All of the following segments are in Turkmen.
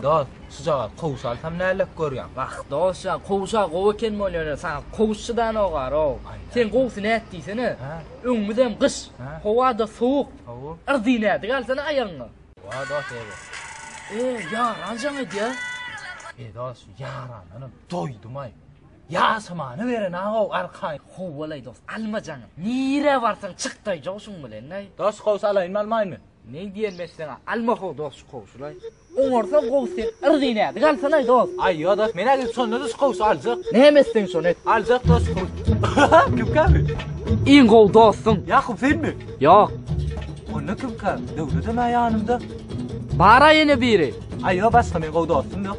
Dost, şu jaga kowuş alsam nälik görýän? Wah, dost, ya kowuşa gowy eken bolýar. Saňa kowuş çydan ogar o. Sen gowusy näet diýsene. Öňümüz hem gyş. Howa da sowuk. Howuk. Irdi nädik alsana aýagyňa. Wah, dost, ýa. E, ýaran jaň edýär. E, dost, ýarandanam doýdum-aý. Ýaşamany beren agow arkaýyn howwalaý dost alma jaňy nirä barsaň çyk daý jow şuň bilen daý. Dos gowsy alaýynmy almaýynmy. Meň diýen messeňe alma how dos şu gowşulaý. Oňarsa gowsy sen yrzy näzik alsanaý dos. Aý ýok dos men agil şonda da şu gowşy aljak. Näme etseň şony et. Aljak dos şu gowşy. Kim käbi? Iň gowy dostuň. Ýakup senmi? Ýok. Onda kim käbi? Döwledem a ýanymda. Bara ýene biri. Aý ýok başga men gowy dostum ýok.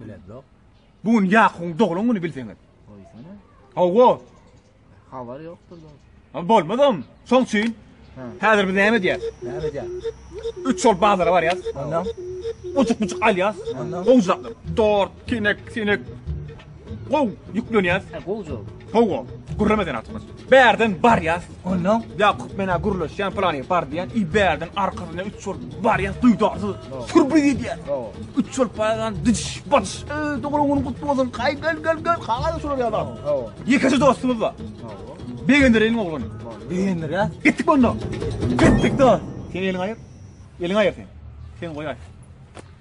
Biledok. Bu gün Yakubuň doglan güni bilseňiz. Goýsana. Hawa. Habar ýokdur. Ama bolmazam. Soň üçin. Häzir biz näme edýäs? Näme edýäs? Üç şol bazara barýas. Ondan. Uçuk-uçuk alýas. Ondan. Owzaklar. Dort, kinek, sinek. Gow, ýüklenýär. He, gow jow. Gow gow. Gürleme sen atmaz. Bärden barýar. Ondan Ýakup mena gürleşýän plany bar diýen. I bärden arkasyna üç ol barýar. Duýdardy. Surbi diýýär. Gow. Üç ol paýan diş baş. E, dogry gün gutly bolsun. Kaý gel gel gel. Kaý şular ýa bak. Gow. Ýekeje dostumyz bar. Gow. Begendireniň ogluny. Begendir ýa. Gitdik onda. Gitdik de. Sen eliň aýyr. Eliň aýyr sen. Sen goýaý.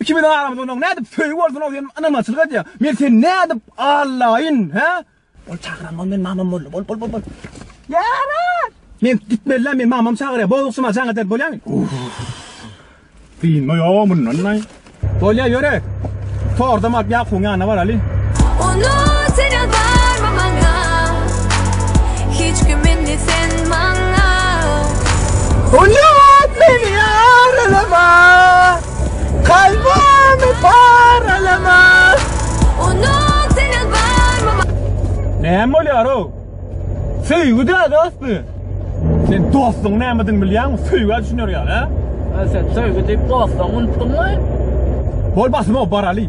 Ikimiziň aramyzda onuň nädip söýgi bolsun-ow diýen ynamaçylyk edýäň. Men seni nädip allaýyn, hä? Ol çagyranman men mamam boldy. Bol, bol, bol, bol. Ýarar! Men gitmelidä, men mamam çagyrýar. Bozuksyma jaň eder bolýamy? Synma ýa mundan-aý. Bolýa ýöre. Tordam alyp Ýakubyň ýanyna baraly. Onu sen ýazarma maňa. Hiç kim indi sen Oýat meni ýaralama, kalbymy paralama. Unut seni barmama. Näme bolýar-ow? Söýgi däl dost bu. Sen dostuň nämedigini bilýäňmi? Söýgä düşüner ýaly, hä? Hä sen söýgi diýip dostuňy unutdyňmy? Bol basym-ow baraly.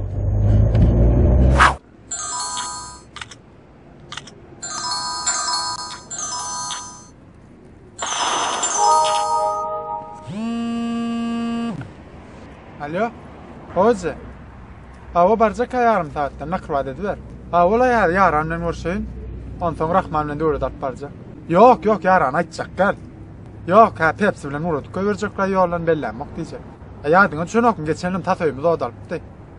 Alo. Hoca. Awa barjak ýarym saatda nakyl wada ediber. Awala ýar ýaran bilen görşeýin. Onsoň Rahman bilen döwlet alyp barjak. Ýok, ýok, ýaran aýtjak gel. Ýok, hä Pepsi bilen urutga berjekler ýoldan bellämok diýjek. Ýadyňa düşenokmy, geçen ýyl tas öýümiz odalypdy.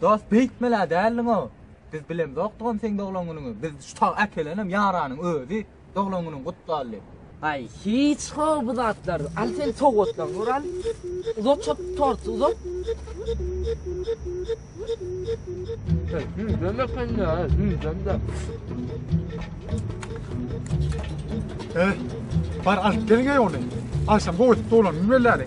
Dost beýtmelä däldiňo biz bilemzokdygam seň doglan günüňi biz şu tag äkelenem ýaranyň özi doglan günüň gutly alli. Ay hiç how bu zatlar. Al sen sowgatdan gör al. Uzat çöp torty uzat. Yüzden de sen de ha, yüzden de. He. Bar alyp gelin ey onu. Akşam goýup dolan bilmeleri.